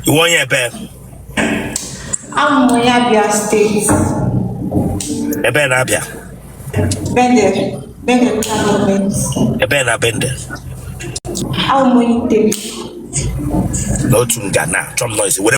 ị wụ onye ebee Abụ m onye Abia steeti. ebee n'Abia Bende, Bende local government. ebee na Bende Abụ m onye Item. n'otu nga na chọm noise were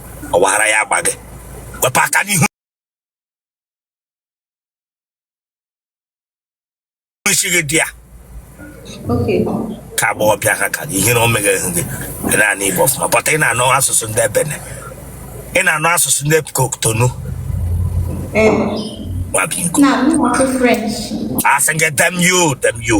ọ wara ya agba gị wepụ aka n'ihu isi gị dị ya ka agbọghọbịa ha ka ihe na o meghe ihu gị ị na-anụ igbo ọfụma but ị na-anụ asụsụ ndị Benin ị na-anụ asụsụ ndị Cotonou a sị gị damn you damn you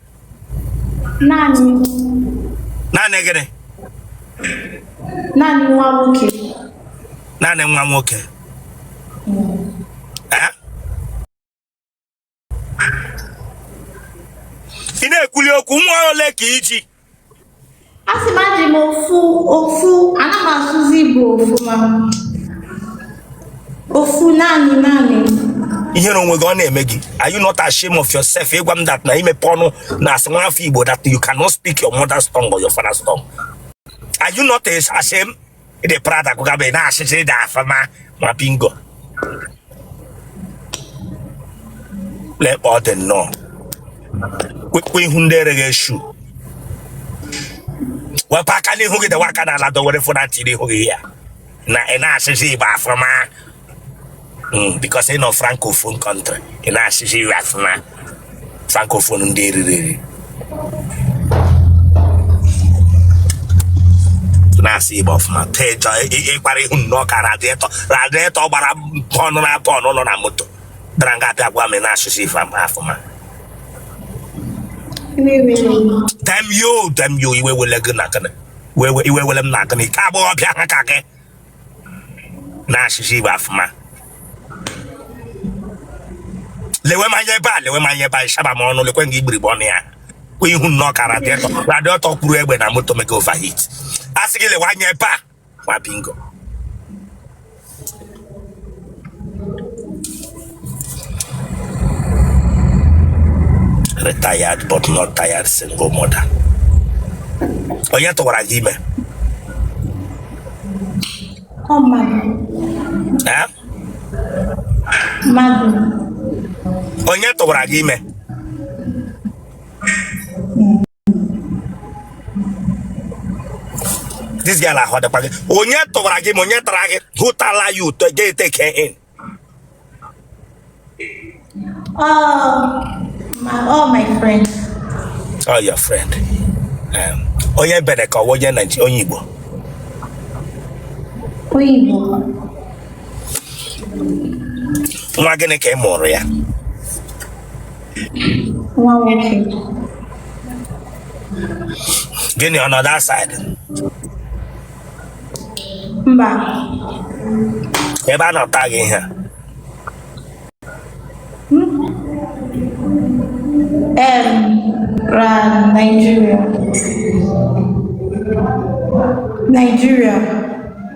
naanị naanị gịnị naanị nwa nwoke naanị nwa nwoke ị na-ekwuli okwu nwa ole ka i ji a sị m eji m ofu ofu ana m asụzi igbo ọfụma ofu naanị naanị ihere onwe gị ọ na-eme gị are you not ashamed of yourself ị gwa m that na i mepee ọnụ na-asị nwa afọ igbo that you cannot speak your mother's tongue or your father's tongue are you not ashamed ị dị proud akọga ebe a ị na-asụzi igbo ọfụma nwa bingo lekpa ọ dị nnọọ kwekwe ihu ndị ereghị eshu wepụ aka n'ihu gị dewe aka n'ala dọwere fụna tiri ihu gị ya na ị na-asụzi igbo ọfụma hmm, because ị nọ francophone country ị na-asụzi igbo ọfụma francophone ndị eriri eri na-asụ igbo ọfụma tejọ ịkpara ihu nnọọ ka radiator radiator gbara pọnụ na pọnụ nọ na moto dara nga abịa gwa m na-asụzi igbo ọfụma damn you damn you iwe wele gị na gịnị iwe wele m na gịnị ka agbọghọbịa ha ka gị na-asụzi Igbo ọfụma lewe m anya ebe a lewe m anya ebe a ị saba m ọnụ lekwe nga igbirigbe ọnụ ya kwe ihu nnọọ ka radiator kwuru egbe na moto mega overheat a sị gị lewe anya ebe a nwa bingo retired but not tired single mother onye tụwara gị ime eh? onye tụwara gị ime this girl ahụ dịkwa gị onye tụwara gị ime onye tara gị who tala you to get take her in Oh, my, oh, my friend. oh your friend um, onye ebee ka ọ wụ onye Naịjirịa onye Igbo Onye Igbo. nwa gịnị ka ị mụụrụ ya nwa nwoke gịnị ọ nọ that side mba ebe a nọ taa gị ihe em ra Nigeria Nigeria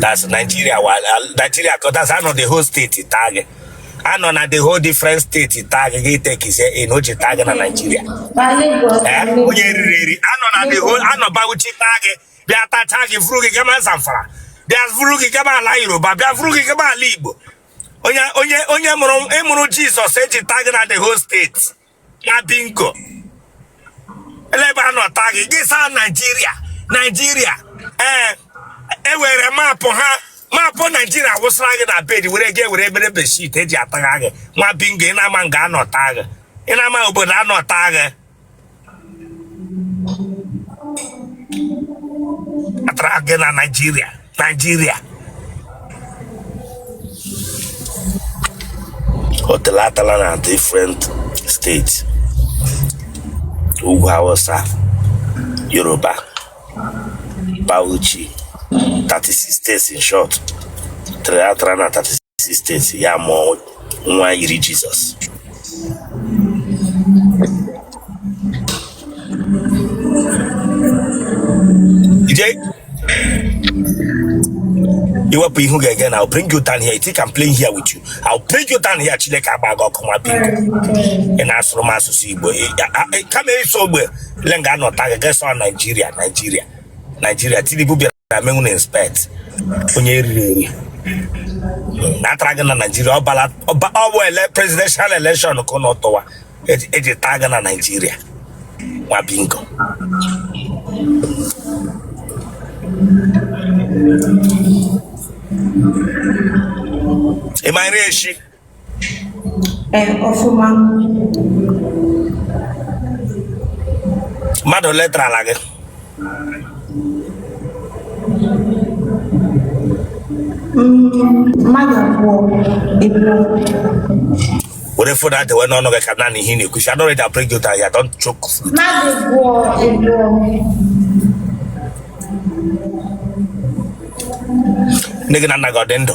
that's Nigeria wa Nigeria cause that's a nọ the whole state taa gị a nọ na the whole different state taa gị gị tekizie in e ji taa gị na Nigeria Eh, onye eriri eri a nọ na the whole a nọ Bauchi taa gị bịa tacha gị vuru gị gama Zamfara bịa vuru gị gama ala Yoruba bịa vuru gị gama ala Igbo onye onye onye mụrụ ịmụrụ Jizọs e ji taa gị na the whole state nwa bingo ele ebe a nọ taa gị gị saa naijiria naijiria ee e were maapụ ha maapụ naijiria wụsara gị na bed were gị were mere bedsheet e ji atagha gị nwa bingo ị na-ama nga a nọ taa gị ị na-ama obodo a nọ taa gị a tara gị na naijiria Naijiria otele atala na different steeti ugwu Hausa Yoruba Bauchi 36 states in short otele atara na 36 states ya mụọ nwa yiri jizọs ije iwepụ ihu ga-ege na I'll bring you down here. You think I'm playing here with you? I'll bring you down here. Chineke gbaa gị ọkụ nwa bingo. Ị na-asụrụ m asụsụ Igbo. Ị- a- a- ị- Kama ịsụ ogbe, ele nga a nọ taa gị gị asị ọ Naijiria, Naijiria, Naijiria. Tinubu bịara na menwu na inspect onye eriri eri a tara gị na naijiria ọbala ọ bụ ele presidential election ka ụnụ tụwa e ji taa gị na naijiria nwa bingo ịmanyere echi Ee, ọfụma. mmadụ ole tara ala gị Mmadụ abụọ eburu. were fon a dewe n'ọnụ gị ka anụ ihe ị na-ekwu si adọrọ ịda break jota ya don choke Mmadụ abụọ eburu. nne gị na nna gị ọ dị ndụ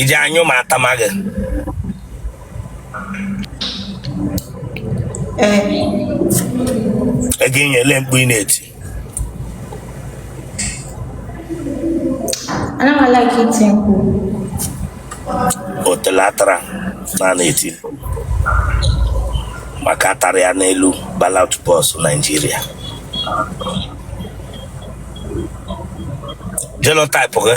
iji anyụ ma atama gị ego inye ele mkpu ị na-eti otelatara na na-eti maka a tara ya n'elu ballot box Naijiria genotype gị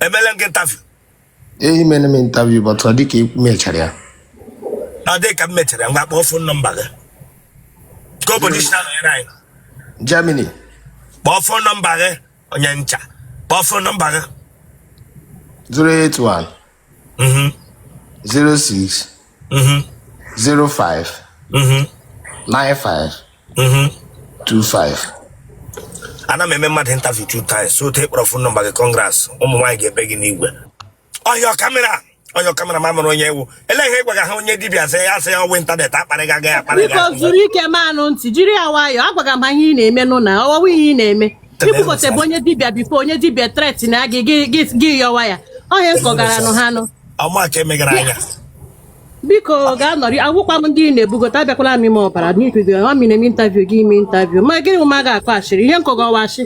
emele m gị interview ee i mele m interview but ọ dịka e mechara ya ọ dị ka m mechara ngwa kpọọ fon nọmba gị ka obodo i si anọnyere anyị Germany kpọọ fon nọmba gị onye ncha kpọọ fon nọmba gị 081 Mhm, 06 mhm, 05 mhm. 95 25 mm-hmm. ana m eme mmadụ interview two times so otu ị kpọrọ fon nọmba gị kọngras ụmụ nwaanyị ga-ebe gị n'igwe onye kamera onye kameraman mụrụ onye ewu ele ihe ị gwaga ha onye dibịa sị ya sị ya ọ wụ ịntanetị akparịga gị akparị gị biko zuru ike manụ ntị jiri ya nwayọọ agwaga m ha ihe ị na-eme nụ na ọwọwụ ihe ị na-eme i kwupụta bụ onye dibịa bifo onye dibịa tret na gị gị yọwa ya ọ ihe m kọgara nụ ha nụ ụmụaka emegara anya biko ga-anọrị agwụkwa m ndị na-ebugota abịakwala m ime ọbara n'ikwigo ọ m na-eme intaviu gị ime intaviu ma gịnị ma ga-akọ ashịrị ihe m kọga ọ wụ ashị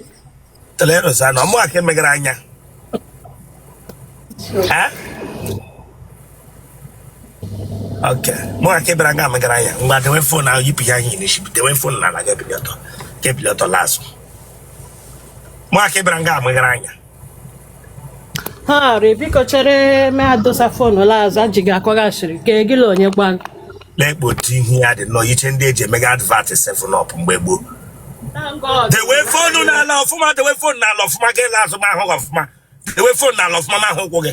Telerus na ụmụaka emegara anya ụmụaka ebere nga emegara anya ngwa dewe fon ahụ yipụ ya ihe n'isi dewe fon n'ala ga-ebili ọtọ ga-ebili ọtọ la azụ ụmụaka ebere nga amegara anya ha rịị biko chere mee adosa fonu la azụ e ji gị akọga ashịrị ka gị la onye gwa gị na-ekpe otu ihu ya dị nnọọ iche ndị eji emega advat seven up mgbe gboo Thank God. dewe fonu n'ala ọfụma dewe fonu n'ala ọfụma gị la azụ ma ahụ gị ọfụma dewe fonu n'ala ọfụma ma ahụ ụkwụ gị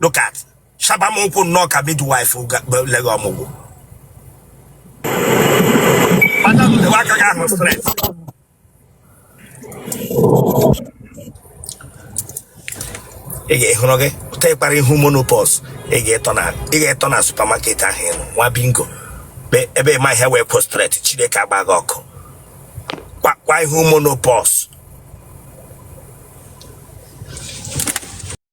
look at shaba m ụkwụ nnọọ ka midwife leghe ọmụgwọ madam dewe aka gị ahụ stret ị ga-ehụrụ gị pụta ị kpara ihu menopause ị ga-etọ na ị ga-etọ na supamaket ahụ ịnụ nwa bingo Be- ebe ị ma ihe wee kwụ stret chineke gbaa gị ọkụ kwa kwa ihu menopause